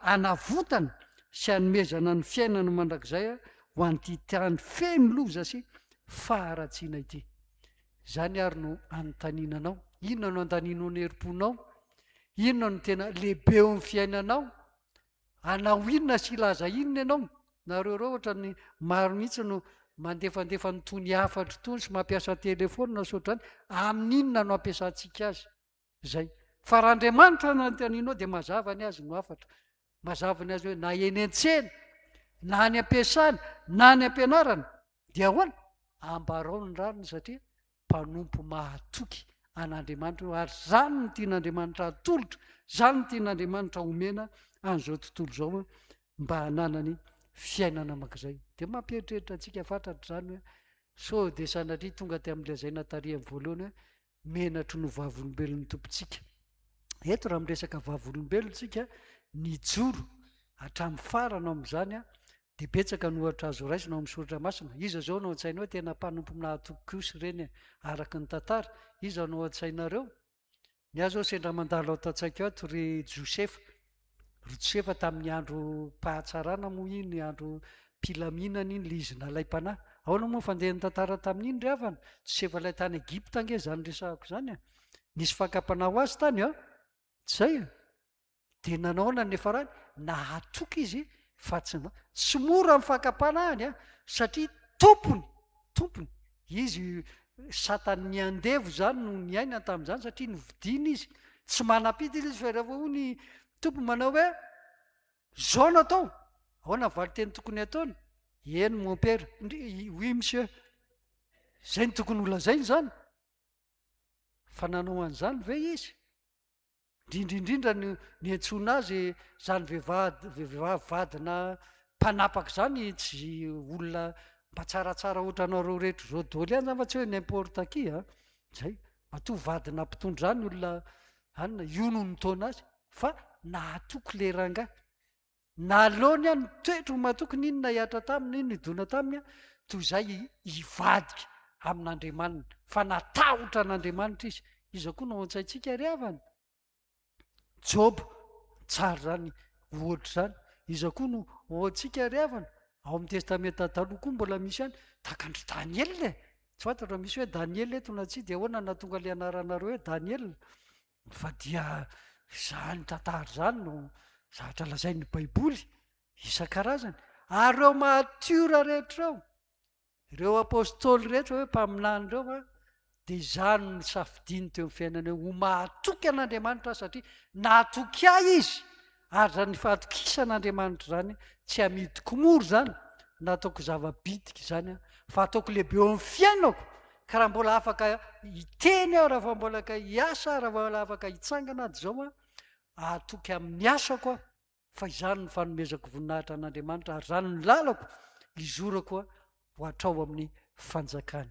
hanavotana sy hanomezana ny fiainana mandrakizay ho an'ity tany feno loza sy faharatsiana ity. Izany àry no anontaniana anao. Inona no andaninao ny herim-ponao? Inona no tena lehibe eo amin'ny fiainanao? Hanao inona sy hilaza inona ianao? Nareo ireo ohatran'ny maro mihitsy no mandefandefa an'itony hafatra itony sy mampiasa telefaonina sy ohatr'izany. Amin'inona no ampiasantsika azy? Zay. Fa raha Andriamanitra no anontanianao dia mazava ny azy no hafatra. Mazava ny azy hoe na eny an-tsena, na any am-piasana, na any am-pianarana, dia ahoana? Ambarao ny rariny satria mpanompo mahatoky an'Andriamanitra io ary zany no tian'Andriamanitra hatolotra, zany no tian'Andriamanitra homena an'izao tontolo izao mba hananany fiainana makizay. Dia mampieritreritra antsika fatratra izany hoe sao dia sanatria tonga tamin'ilay izay natariany voalohany hoe menatro no vavolombelon'ny Tompontsika. Eto raha miresaka vavolombelona isika, nijoro hatramin'ny farany ao amin'izany, dia betsaka ny ohatra azo raisina ao amin'ny soratra masina. Iza izao no ao an-tsainao hoe tena mpanompo nahatoky kosa ireny araka ny tantara? Iza no ao an-tsainareo? Ny ahy izao sendra mandalo ato an-tsaiko ato ry Josefa. Rotsefa tamin'ny androm-pahatsarana moa iny, androm-pilaminana iny ilay izy nalaim-panahy. Ahoana moa ny fandehan'ny tantara tamin'iny ry havana? Rotsefa ilay tany Egypta ange izany resahako izany a! Nisy fakam-panahy ho azy tany a! Tsy izay a! Dia nanaoana ny farany? Nahatoky izy fa tsy, tsy mora ny fakam-panahiny a! Satria tompony, tompony. Izy satan' ny andevo izany no niainany tamin' izany satria novidiana izy. Tsy manam-pidiny izy fa rehefa hoy ny Tompo manao hoe izao no atao, ahoana ny valin-teny tokony hataony? Eny mompera, oui monsieur. Izay no tokony holazainy izany. Fa nanao an'izany ve izy? Indrindra indrindra ny niantsoana azy izany vehivady vehivavy vadina mpanapaka izany tsy olona mba tsaratsara ohatra anareo rehetra izao daholo ihany izany fa tsy hoe n'importe qui a izay matoa vadina mpitondra izany olona anona io no nitaona azy fa nahatoky le rangahy Naleony an, ny toetry ny matokiny iny nahihatra taminy, iny nidona taminy an, toy izay hivadika amin'Andriamaniny, fa natahotra an'Andriamanitra izy. Iza koa no ontsaintsika ary havana? Joba, tsara izany ohatra izany. Iza koa no ohantsika ary havana? Ao amin'ny Testamenta Taloha koa mbola misy ihany, tahaka an-dry Daniela e! Tsy fantatra raha misy hoe Daniela eto na tsia, dia ahoana no nahatonga ilay anaranareo hoe Daniela? Fa dia izany tantara izany no zavatra lazain'ny Baiboly isan-karazany. Ary ireo matiora rehetra ireo, ireo apôstôly rehetra hoe mpaminany ireo a, dia izany no safidiany teo amin'ny fiainana eo, ho mahatoky an'Andriamanitra aho satria nahatoky ahy izy Ary zany fahatokisan Andriamanitra zany tsy amidiko mora zany na ataoko zava-bitika izany an, fa ataoko lehibe eo amin'ny fiainako, ka raha mbola afaka hiteny aho, raha mbola afaka hiasa aho, raha mbola afaka hitsangana aho, dia izao an, ahatoky amin'ny asako aho, fa izany no fanomezako voninahitra an'Andriamanitra, ary izany no lalako izorako ho hatrao amin'ny fanjakany.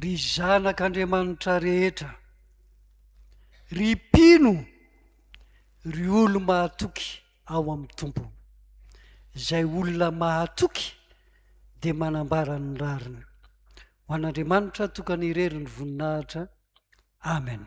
Ry zanak'Andriamanitra rehetra, ry mpino, ry olo-mahatoky ao amin'ny Tompo. Izay olona mahatoky dia manambara ny rariny. Ho an'Andriamanitra tokana irery ny voninahitra. Amen.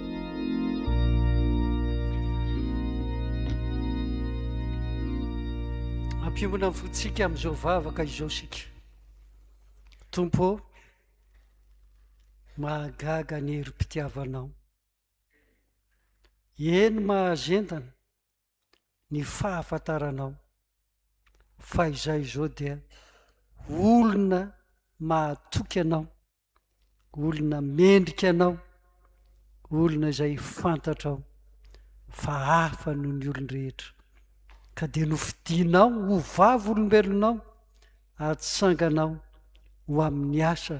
Ampionona ny fontsika amin'izao vavaka izao sika. Tompo ô, mahagaga ny herim-pitiavanao. Eny mahazendana. ny fahafantaranao fa izaho izao dia olona mahatoky anao, olona mendrika anao, olona izay fantatrao fa hafa noho ny olon-drehetra, ka dia nofidinao ho vavolombelonao atsanganao ho amin'ny asa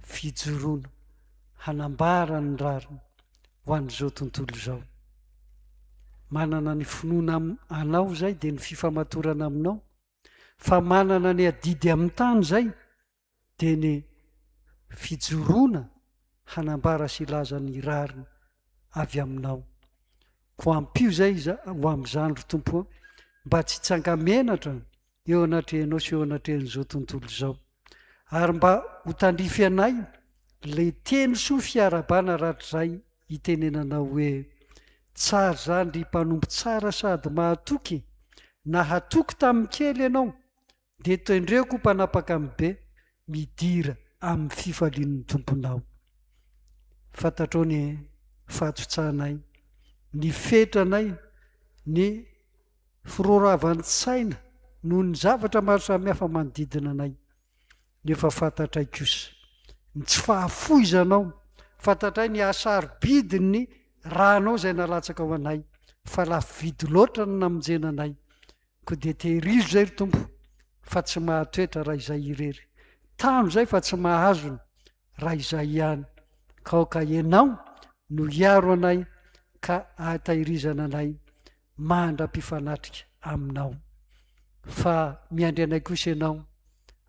fijoroana hanambara ny rariny. ho an'izao tontolo izao. Manana ny finoana anao izay dia ny fifamatorana aminao, fa manana ny adidy amin'ny tany izay dia ny fijoroana hanambara sy laza ny rariny avy aminao. Ko ampio izay ho amin'izany ry tompo mba tsy tsangamenatra eo anatrehanao sy eo anatrehan'izao tontolo izao. Ary mba ho tandrify anay ilay teny soa fiarabana ratrizay itenenanao hoe tsara izany ry mpanompo tsara sady mahatoky e! Nahatoky tamin'ny kely ianao, dia tendreo koa mpanapaka amin'ny be, midira amin'ny fifalian'ny Tomponao. Fantatrao ny fahatotsahanay, ny fetranay, ny Firoravan-tsaina noho ny zavatra maro samihafa manodidina anay, nefa fantatray kosa ny tsy fahafoizanao, fantatray ny hasarobidin'ny ranao izay nalatsakao anay, fa lafo vidy loatra ny namonjena anay, koa dia tehirizo izay ry Tompo fa tsy mahatoetra raha izay irery, tano izay fa tsy mahazona raha izay ihany, ka aoka Ianao no hiaro anay ka ahatahirizana anay mandra-pifanatrika aminao. Fa miandry anay kosa ianao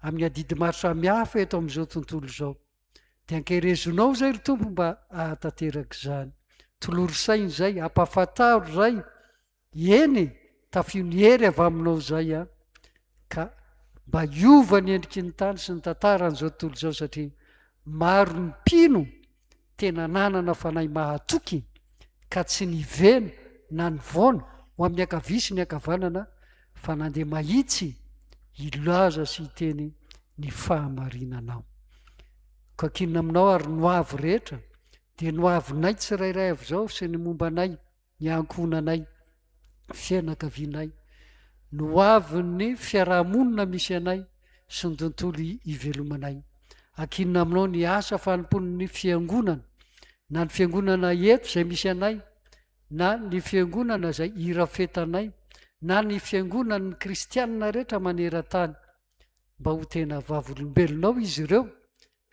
amin'ny adidy maro samihafa eto amin'izao tontolo izao. Dia ankerezonao izay ry Tompo mba ahatanteraka izany. Tolory saina izay, ampafantaro izay. Eny, tafio ny hery avy aminao izay an. Ka mba hiova ny endriky ny tany sy ny tantara an'izao tontolo izao satria maro ny mpino Tena nanana fanahy mahatoky ka tsy nivena na nivaona ho amin'ny ankavia sy ny ankavanana fa nandeha mahitsy hilaza sy hiteny ny fahamarinanao. Koakinina aminao ary no avo rehetra dia no avinay tsirairay avy izao sy ny momba anay ny ankohonanay, fianakavianay, ny ho avin'ny fiaraha-monina misy anay sy ny tontolo ivelomanay. Ankinina aminao ny asa fanompoan'ny fiangonana, na ny fiangonana eto izay misy anay, na ny fiangonana izay irafetanay, na ny fiangonan'ny kristianina rehetra maneran-tany, mba ho tena vavolombelonao izy ireo,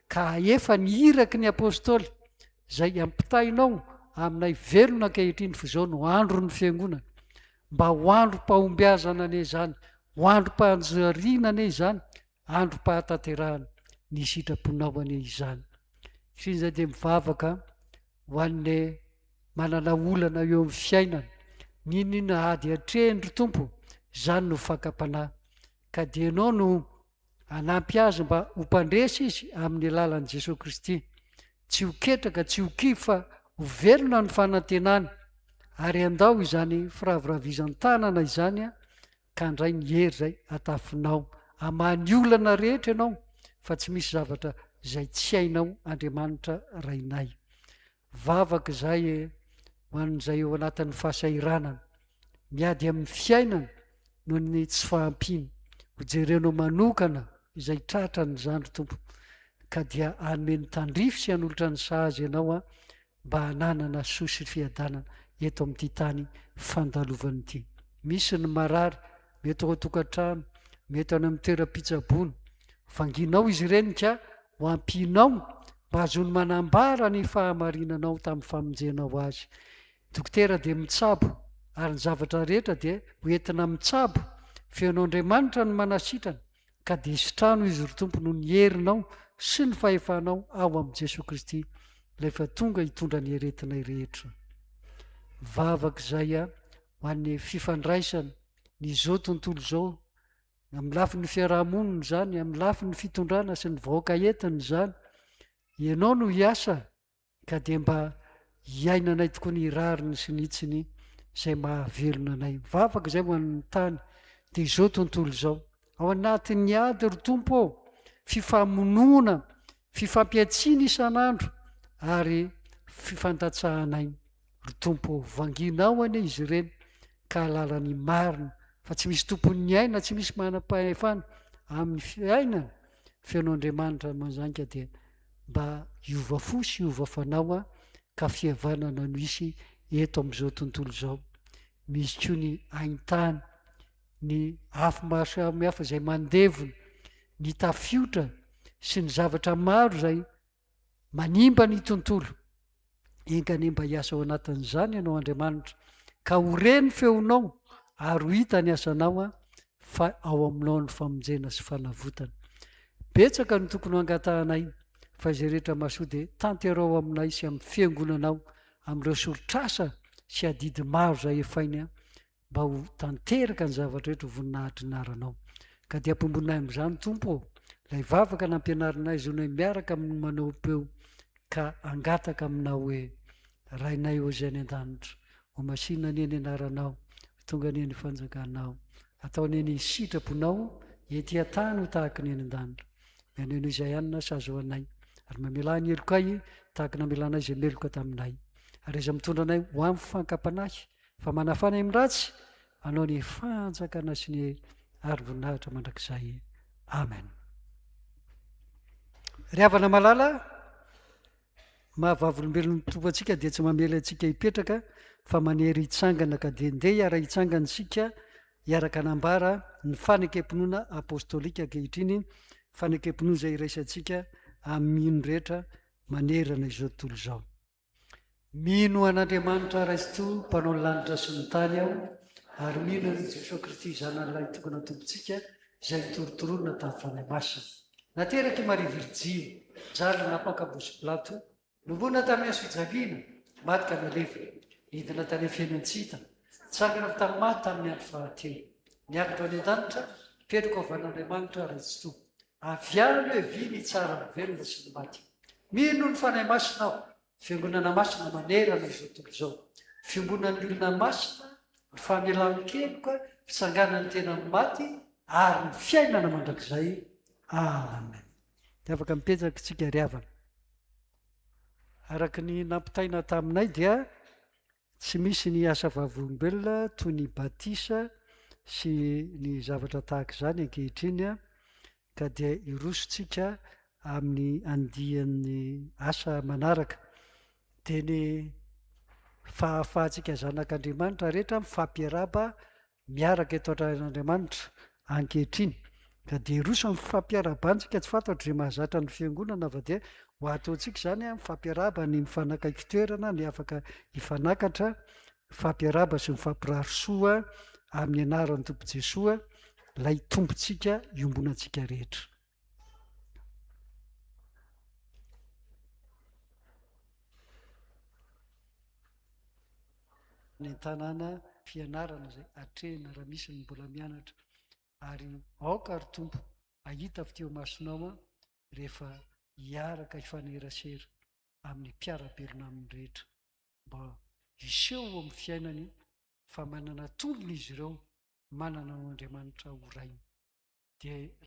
Ka efa ny iraky ny Apostoly, izay ampitainao aminay velona ankehitriny fa izao no andron'ny Fiangonana. Mba ho androm-pahombiazana anie izany, ho androm-panjariana anie izany, androm-pahatanterahana ny sitraponao anie izany. Satria izay dia mivavaka ho an'ny manana olana eo amin'ny fiainana. N'inona ady atrehiny ry Tompo, izany no fakam-panahy. Ka dia ianao no Hanampy azy mba ho mpandresy izy amin'ny alalan'i Jesoa Kristy. Tsy ho ketraka, tsy ho kivy fa ho velona ny fanantenany. Ary andao izany firaviravizan-tanana izany ka handray ny hery izay hatafinao. Hamaha ny olana rehetra ianao fa tsy misy zavatra izay tsy hainao Andriamanitra Rainay. Vavaka izay ho an'izay eo anatin'ny fahasahiranana, miady amin'ny fiainana noho ny tsy fahampiana. Hojerenao manokana izay tratra ny zandry Tompo, ka dia hanome ny tandrify sy hanolotra ny sahaza ianao Aho mba hananana soa sy fiadanana eto amin'ity tany fandalovan'ity. Misy ny marary, mety ho tokantrano, mety any amin'ny toeram-pitsaboana. Vanginao izy ireny ka ho ampianao mba hahazoany manambara ny fahamarinanao tamin'ny famonjenao azy. Dokotera dia mitsabo, ary ny zavatra rehetra dia hoentina mitsabo. Feon'Andriamanitra no manasitrana. Ka dia sitrano izy ry Tompo noho ny herinao sy ny fahefanao ao amin'i Jesoa Kristy ilay efa tonga hitondra ny aretinay rehetra. Vavaka izay a, ho an'ny fifandraisana, ny zao tontolo izao, amin'ny lafin'ny fiarahamonina izany, amin'ny lafin'ny fitondrana sy ny vahoaka entiny izany. Ianao no hiasa ka dia mba hiainanay tokoa ny rariny sy ny hitsiny izay mahavelona anay. Mivavaka izay ho an'ny tany, dia izao tontolo izao. Ao anatin'ny ady ry Tompo ô, fifamonoana, fifampiatsiana isan'andro ary fifandatsahanay ry Tompo ô. Vanginao anie izy ireny ka halala ny marina fa tsy misy tompon'ny aina, tsy misy manam-pahefana amin'ny fiainana. Fenon'Andriamanitra manjainga dia mba hiova fo sy hiova fanao aho ka fihavanana no hisy eto amin'izao tontolo izao misy koa ny aintany ny afo maro samihafa izay mandevona ny tafiotra sy ny zavatra maro izay manimba ny tontolo Enga anie mba hiasa ao anatin'izany ianao Andriamanitra, ka ho re ny feonao ary ho hita ny asanao an, fa ao aminao ny famonjena sy fanavotana. Betsaka no tokony ho angatahanay, fa izay rehetra mahasoa dia tanteraho aminay sy amin'ny fiangonanao, amin'ireo soritr'asa sy adidy maro izay efainy an, mba ho tanteraka ny zavatra rehetra ho voninahitry ny anaranao. Ka dia apombonay amin'izany Tompo ô, ilay vavaka nampianarinay zonay miaraka amin'ny manao peo ka angataka aminao hoe Rainay ô izay any an-danitra, ho masina anie ny anaranao, ho tonga anie ny fanjakanao, atao anie ny sitraponao ety an-tany ho tahaka ny any an-danitra. Mianao ianao izay anina sa azo anay, ary mamelà ny helokay tahaka namelanay izay meloka taminay. Ary iza mitondra anay ho amin'ny fankapanahy Fa manafana amin'ny ratsy anao ny fanjakana sy ny arim-boninahitra mandrakizay. Amen. Ry havana malala, mahavavolombelon'ny tompo antsika dia tsy mamela antsika hipetraka fa manery hitsangana ka dia ndeha hiara hitsangana isika hiaraka nambara ny fanekempinoana apostolika ankehitriny fanekempinoana izay iraisantsika amin'iny rehetra manerana izao tontolo izao Mino an'Andriamanitra Raisoa mpanao ny lanitra sy ny tany aho ary mino an'i Jesoa Kristy Zanany Lahitokana Tompontsika izay nitorotoroana tamin'ny Fanahy Masina. Naterak'i Maria Virjiny, zanany nampaka Bosy Pilato, novonoina tamin'ny hazofijaliana, maty ka nalevina, nidina tany Afienantsita, nitsangana avy tamin'ny maty tamin'ny andro fahatelo, niakatra any an-danitra, mipetraka ao van'Andriamanitra Raisoa. Avy any hoe vy ny tsara ny velona sy ny maty. Mino ny Fanahy Masina aho, Fiangonana Masina manerana izao tontolo izao, Fiombonan'ny olona masina, ny famelan-keloka, fitsanganan'ny tena amin'ny maty, ary ny fiainana mandrakizay. Amen. Dia afaka mipetraka isika ry havana. Araka ny nampitaina taminay dia Tsy misy ny asa vavolombelona toy ny batisa sy ny zavatra tahaka izany ankehitriny, ka dia hirosontsika amin'ny andiany asa manaraka. Dia ny fahafahantsika zanak'Andriamanitra rehetra mifampiarahaba miaraka eto an-tranon'Andriamanitra ankehitriny, ka dia hiroso amin'ny fampiarahabana isika, tsy fantatro izay mahazatra ny Fiangonana fa dia ho ato antsika izany an, mifampirahaba ny mifanakaiky toerana, ny afaka hifanakatra, mifampirahaba sy mifampirary soa amin'ny anaran'ny Tompo Jesoa, ilay Tompontsika iombonantsika rehetra. ny an-tanàna fianarana izay atrehina raha misy ny mbola mianatra ary aoka ry tompo ahita avy teo masonao an rehefa hiaraka hifanerasera amin'ny mpiara-belona amin'ny rehetra mba hiseho ao amin'ny fiainany fa manana tolona izy ireo manana ao Andriamanitra ho rainy dia